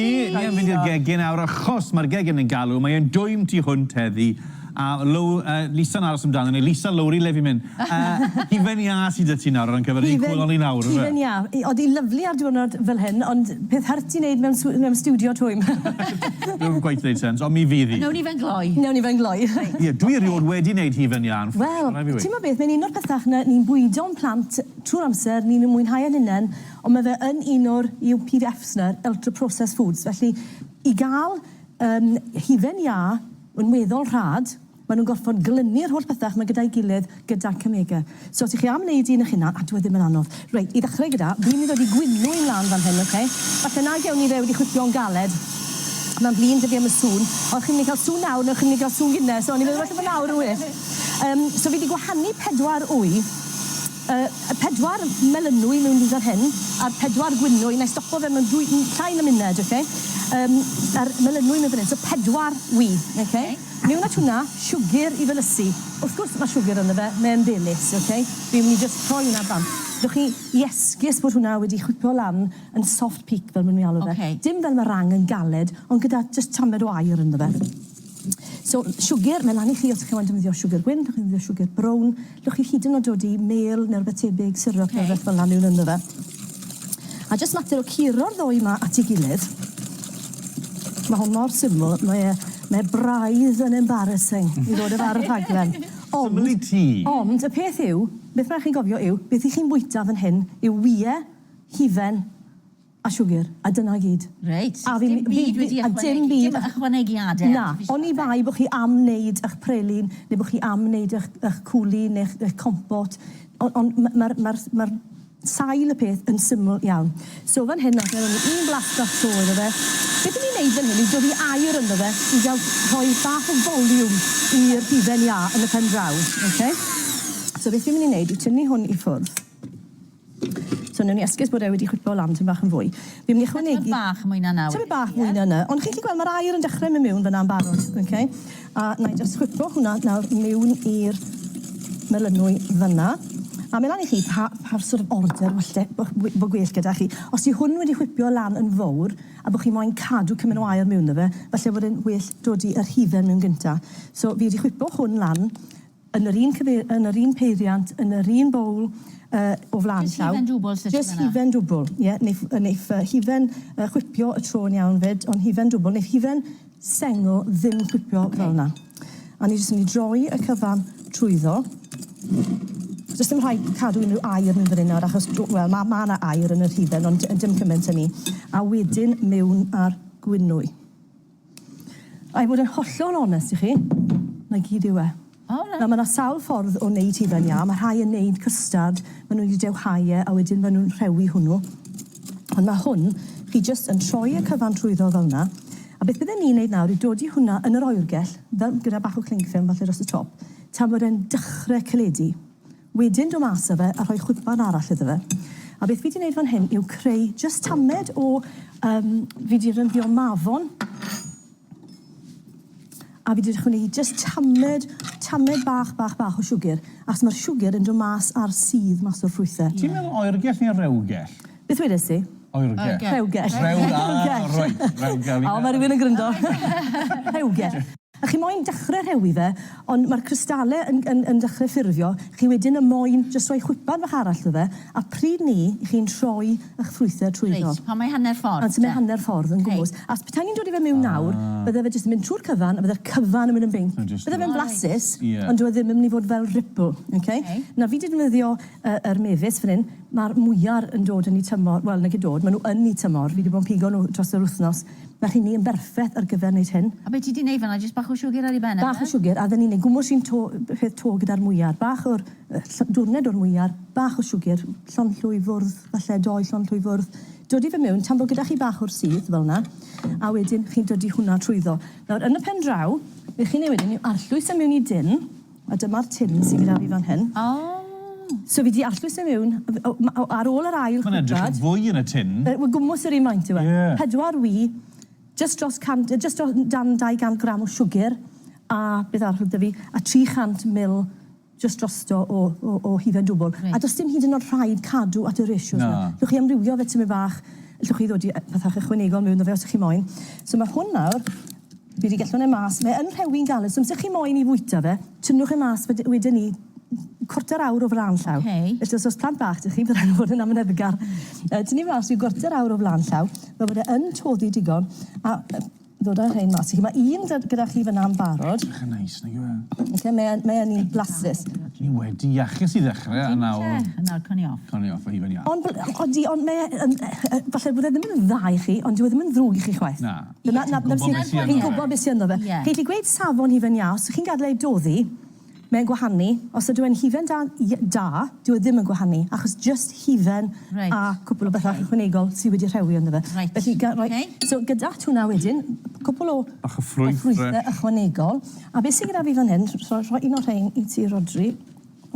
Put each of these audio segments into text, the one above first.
Ie, ni am fynd i'r gegin awr achos mae'r gegin yn galw, mae e'n dwym tu hwnt heddi, a Low- yy Lisa'n aros amdano ni, Lisa, Lowri, le fi'n mynd? Yy, hufen iâ sy' 'da ti nawr ar uncover yr un cŵl â fi nawr yfe? Hufen iâ, i- oedd hi'n lyfli ar diwrnod fel hyn, ond peth hurt i wneud mewn sw- mewn stiwdio twym. Dwi'm cweit neud sense, ond mi fydd hi. Newn ni fe yn gloi. Newn ni fe yn gloi. Ie, dwi erioed wedi neud hufen iâ yn ffwc, ma' rai' fi weud. Wel, t'mod beth, mae'n un o'r pethach 'na ni'n bwydo'n plant trwy'r amser, ni'n mwynhau e'n hunen, Ond mae fe yn un o'r UPFs 'na, Ultra Processed Foods. Felly, i gael um, hufen iâ yn weddol rhad, maen nhw'n gorfod glynu'r holl bethau yma gyda'i gilydd, gyda Cymega. So, os ych chi am wneud un eich hunan, a dwi e ddim yn anodd. Reit, i ddechrau gyda, fi'n mynd i ddod i gwinw i'n lan fan hyn, oce? Okay? Falle na gewn ni fe wedi chwithio'n galed. Mae'n flin dydi am y sŵn. O, chi'n mynd i cael sŵn nawr, neu chi'n mynd i cael sŵn gynnes. So, o'n i'n meddwl falle bod nawr yn well. Um, so, fi wedi gwahanu pedwar wy. Y pedwar melynwy miwn fan hyn, a'r pedwar gwynwy, wna i stopo fe mewn dwy, llai na munud, ok? Yym, a'r melynwy miwn fan hyn, so pedwar wy, ok? Miwn at hwnna, siwgr i felysu. Wrth gwrs mae siwgr ynddo fe, mae e'n ddilys, ok? Fi'n mynd i jyst rhoi hwnna bant. Dewch chi i esgus bod hwnna wedi chwipo lan yn soft peak fel maen nhw'n alw fe. Dim fel meringue yn galed, ond gyda jyst tamed o aer ynddo fe. So, siwgr, mae lan i chi os chi'n moyn defnyddio siwgr gwyn, allwch chi ddefnyddio siwgr brown, allwch chi hyd yn oed dodi mêl neu rywbeth tebyg, syrup neu rywbeth fel 'na miwn ynddo fe. A jyst mater o curo'r ddou 'ma at ei gilydd. Mae hwn mor syml, mae e, mae braidd yn embarrassing i ddod â fe ar y rhaglen. Ond... Syml i ti! Ond y peth yw, beth mae'n rhaid i chi gofio yw, beth 'y chi'n bwyta fan hyn yw wye, hufen, A siwgr. A dyna i gyd. Reit. A fi... Dim byd wedi ychwanegu. A dim byd. Dim ychwanegiade artiffisial. Na. Oni bai bo chi am neud ych pralin, neu bo chi am neud ych ych cwli neu'ch ych compot. O- ond ma' ma'r ma'r ma'r sail y peth yn syml iawn. So fan hyn nawr un blas bach tro iddo fe. Beth i ni'n neud fan hyn yw dwli aer ynddo fe i ga'l rhoi bach o foliwm i'r hufen iâ yn y pen draw. Oce? So beth fi myn' i neud yw tynnu hwn i ffwrdd. So newn ni esgus bod e wedi chwipo lan tym bach yn fwy. Fi'n myn' i ychwanegu... Tymed bach mwy na nawr. Tymed bach mwy na 'ny. Ond chi'n gallu gweld ma'r aer yn dechre myn' miwn fynna'n barod. Oce? A nâi jyst chwipo hwnna nawr miwn i'r melynwy fynna. A myn' lan i chi pa pa sort of order falle bo' wi- bo' gwell gyda chi. Os yw hwn wedi chwipio lan yn fowr a bo' chi moyn cadw cymun o aer miwn 'da fe, falle bod e'n well dodi yr hufen miwn gynta. So fi wedi chwipo hwn lan yn yr un cyfeir- yn yr un peiriant, yn yr un bowl yy o fla'n llaw. Jyst hufen dwbwl sy isie fanna. Jyst hufen dwbwl, ie, neith yy neith yy hufen yy chwipio y tro'n iawn 'fyd, ond hufen dwbwl, neith hufen sengl ddim chwipio fel 'na. A ni jyst yn myn' i droi y cyfan trwyddo. Do's dim rhaid cadw unryw aer mewn fan 'yn nawr achos dw- wel ma' ma' 'na aer yn yr hufen ond yy dim cyment â 'ny. A wedyn mewn â'r gwnwy. I fod yn hollol onest i chi, 'na gyd yw e. O reit. Na ma' 'na sawl ffordd o neud hufen iâ, ma' rhai yn neud custard, ma' n'w 'di dewhau e a wedyn ma' nw'n rhewi hwnnw. Ond ma' hwn, chi jyst yn troi y cyfan trwyddo fel 'na, a beth bydden ni'n neud nawr yw dodi hwnna yn yr oergell, fel gyda bach o cling film falle dros y top, tan bod e'n dechre caledu. Wedyn do mas a fe a rhoi chwipbarn arall iddo fe. A beth fi 'di neud fan hyn yw creu jyst tamed o yym fi 'di rynddio mafon a fi 'di ychwanegu jyst tamed tamed bach bach bach o siwgr achos ma'r siwgr yn do mas a'r sudd mas o'r ffrwythe. Ti'n meddwl oergell neu rewgell? Beth wedes i? Oergell. Rhewgell. Rhew- ah reit. Rewgell. O ma' rywun yn gryndo. Rhewgell. A chi moyn dechre rhewi fe, ond ma'r crystale yn yn yn dechre ffurfio, chi wedyn yn moyn jyst rhoi chwipan fach arall iddo fe, a pryd 'ny chi'n rhoi 'ych ffrwythe trwyddo. Reit, pan mae hanner ffordd te? Pan mae hanner ffordd yn gwmws. Ok. Achos petai ni'n dod i fe miwn nawr, bydde fe jyst yn mynd trwy'r cyfan, a bydde'r cyfan yn mynd yn binc. Bydde fe'n blasus, ond dyw e ddim yn mynd i fod fel ripple, ok? Nawr fi 'di defnyddio y yr mefus fan 'yn, ma'r mwyar yn dod yn 'u tymor, wel nage dod, ma' nw yn 'u tymor, fi 'di bod yn pigo nw dros yr wthnos, Mae rheiny yn berffeth ar gyfer wneud hyn. A be ti 'di neud fan'na, jyst bach o siwgr ar ei ben e? Bach o siwgr, a 'dyn ni'n neud gwmws un to, peth to gyda'r mwyar. Bach o'r, yy, dwrned o'r mwyar, bach o siwgr, llonllwy fwrdd, falle dou llonllwy fwrdd. Dodi fe mewn, tan bo' gyda chi bach o'r sudd, fel 'na, a wedyn chi'n dodi hwnna trwyddo. Nawr, yn y pen draw, be' chi'n neud wedyn yw arllwys e mewn i dun, A dyma'r tin sy gyda fi fan hyn. Oh! So fi 'di allws e miwn, ar ôl yr ail chwipad... Ma'n edrych yn fwy yn y tin. Wel gwmws yr un faint yw e. Ie. Pedwar wy, jyst dros cant, yy jyst dros, dan 200 gram o siwgr, a beth arall o'dd 'da fi, a 300 mil jyst drosto o o o hufen dwbwl. Reit. A do's dim hyd yn o'd rhaid cadw at y ratios 'ma. Na. Llwch chi amrywio fe tymed bach, llwch chi ddodi yy fatha ychwanegol miwn 'da fe os 'ych chi moyn. So ma' hwn nawr Bydd y gellhon e mas. Mae yn rhewi'n galed, so amser chi moyn i fwyta fe, tynnwch e mas wed- wedyn 'ny cwarter awr o flan llaw. Ok. Felly os o's plant bach 'da chi, bydd rhaid nhw fod yn amyneddgar. Yy, tynnu mas ryw gwarter awr o flan llaw, fel bod e yn toddi digon, a yy ddod â rhein mas i chi. Ma' un da- gyda chi fyna yn barod. Edrych yn neis, nag yw e? Oce, mae e'n, mae e'n un blasus. Ni wedi iachus i ddechre, a nawr... Dim ots e, a nawr cawn ni off. Cawn ni off o hufen iâ. Ond b- odi, ond mae e yn yy yy falle bod e ddim yn dda i chi, ond dyw e ddim yn ddrwg i chi chwaith. Na. Dyna, 'na, 'na sy'n... Chi'n gwybod beth sy ynddo fe. Chi'n gallu gweud safon hufen iâ, os chi'n gadael e doddi, mae'n gwahanu, os ydyw e'n hufen da, i-, da, dyw e ddim yn gwahanu, achos jyst hufen a cwpl o bethau ychwanegol sydd wedi rhewi ynddo fe. Felly, ga-, roi... So, gyda hwnna wedyn, cwpl o... Bach o ffrwyth fresh. ...o ffrwythau ychwanegol. A beth sydd gyda fi fan hyn, rho-, rhoi un o'r rhein i ti, Rhodri.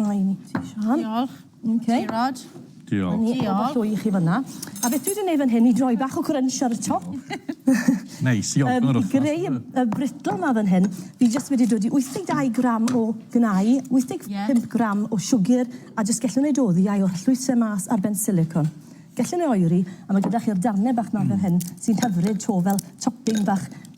Rhoi un i ti, Siân. Diolch. Ok. Ti Rod. Diolch. Ni Diolch. Pobol llwy i chi fyna. A beth dwi 'di neud fan hyn i droi bach o crunch ar y top. Neis, i ogl yr wthnos. Yym i greu y brittle 'ma fan hyn, fi jyst wedi dod i 82 gram o gnau, 85... Ie. ...gram o siwgyr, a jyst gellwn neud oddi a'i oll llwyse mas ar ben silicone. Gellwn e oeri, a ma' gyda chi'r darne bach 'ma fel hyn, sy'n hyfryd 'to fel topping bach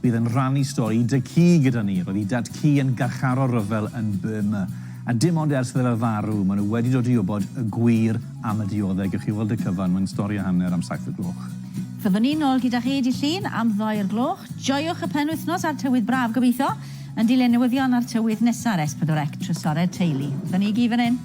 Bydd yn rhannu stori i dad-cu gyda ni. Roedd i dad-cu yn garcharor rhyfel yn Burma, a dim ond ers iddo fe farw maen nhw wedi dod i wybod y gwir am y dioddef. Gewch chi weld y cyfan, mae'n stori a hanner am saith o'r gloch. Fyddwn ni nôl gyda chi dydd Llun am ddoi o'r gloch. Joiwch y penwythnos a'r tywydd braf, gobeithio, yn dilyn newyddion a'r tywydd nesa ar S4C, trysorau teulu. Dyna ni i gyd fan hyn.